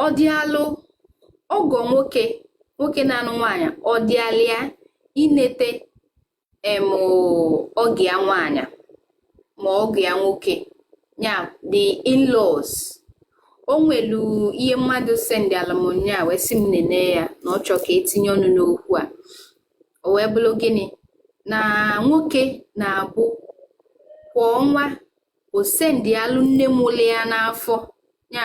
ọ dịalụ ọgọ nwoke nwoke na-anụ nwaanyị ọ dịalị ya inete em ọgọ ya nwaanyị ma ọgọ ya nwoke ya the in-laws o nwelu ihe mmadụ sendialụ mụ nya wee sị m nene ya na ọ chọọ ka e tinye ọnụ n'okwu a o wee bụrụ gịnị na nwoke na-abụ kwa ọnwa o sendialụ nne mụlụ ya n'afọ ya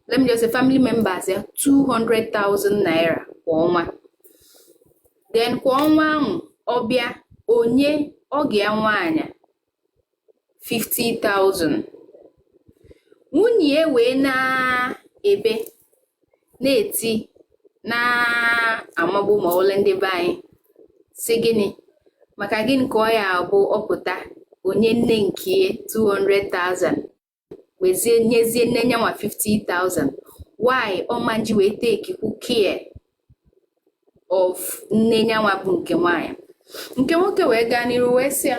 let me just say family members ya 200,000 naira kwa ọnwa then kwa ọnwa ahụ ọ bịa o nye ọgọ ya nwaanyị 50,000 nwunye ya wee na-ebe na-eti na-amagbu ma ole ndị be anyị sị gịnị maka gịnị ka ọ ya-abụ ọ pụta o nye nne nke ya 200,000 wezie nyezie nne nyanwa 50,000 why ọ ma-eji wee tekikwu care of nne nyanwa bụ nke nwaanyị nke nwoke wee gaa n'iru wee sị ya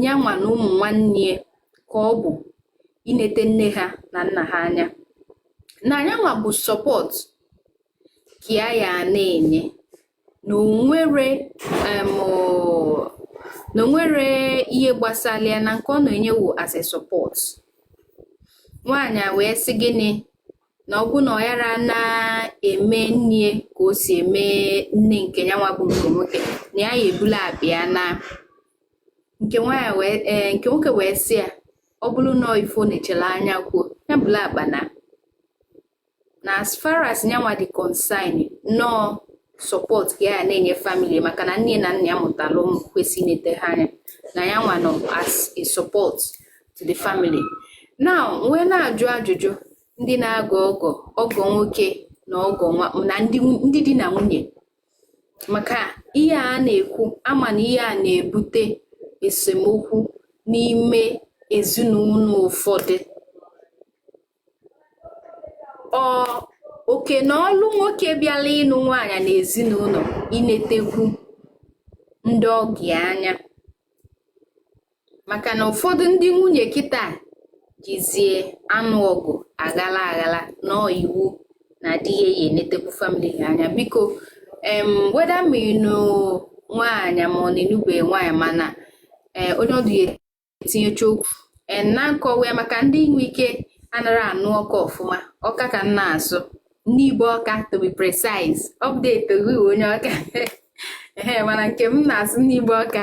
nyanwa na ụmụ nwanne ya ka ọ bụ inete nne ha na nna ha anya na nyanwa bụ support ka ya ya na-enye na o nwere em, ọ- na o nwere ihe gbasara ya na nke ọ na-enye wo as a support nwaanyị a wee sị gịnị na ọ bụ na ọ yara na-eme nne ya ka o si eme nne nke ya nwa bụ nke nwoke na ya ya-ebula akpa ya naa nke eh, nwoke wee sị ya ọ bụrụ na ife ọ na-echere anya kwuo ya bula akpa naa na as far as nyanwa dị concern na ọ support ka ya na-enye family maka na nne na nna ya mụtara ụmụ kwesị inete ha anya na ya nwa nọ as a support to the family now m wee na-ajụ ajụjụ ndị na-agọ ọgọ ọgọ nwoke na ọgọ nwa na ndị di na nwunye maka ihe a na-ekwu a ma na ihe a na-ebute esemokwu n'ime ezinụlọ ụfọdụ ọ oke na ọlụ nwoke bịala ịnụ nwaanyị na ezinụlọ inetekwu ndị ọgọ ya anya maka na ụfọdụ ndị nwunye kịta jizie anụ ọgụ aghala aghala na iwu na di ya ya-enetekwu family ha anya biko em whether ma ịnụ nwaanyị ma ọ na-enube nwaanyị mana eh, onye ọdụ ya etinyecha okwu eh, na nkọwa ya maka ndị nwe ike anara anụ Ọka ọfụma Ọka ka m na-asụ Nibo Ọka to be precise update onye Ọka ee mana nke m na-asụ Nibo Ọka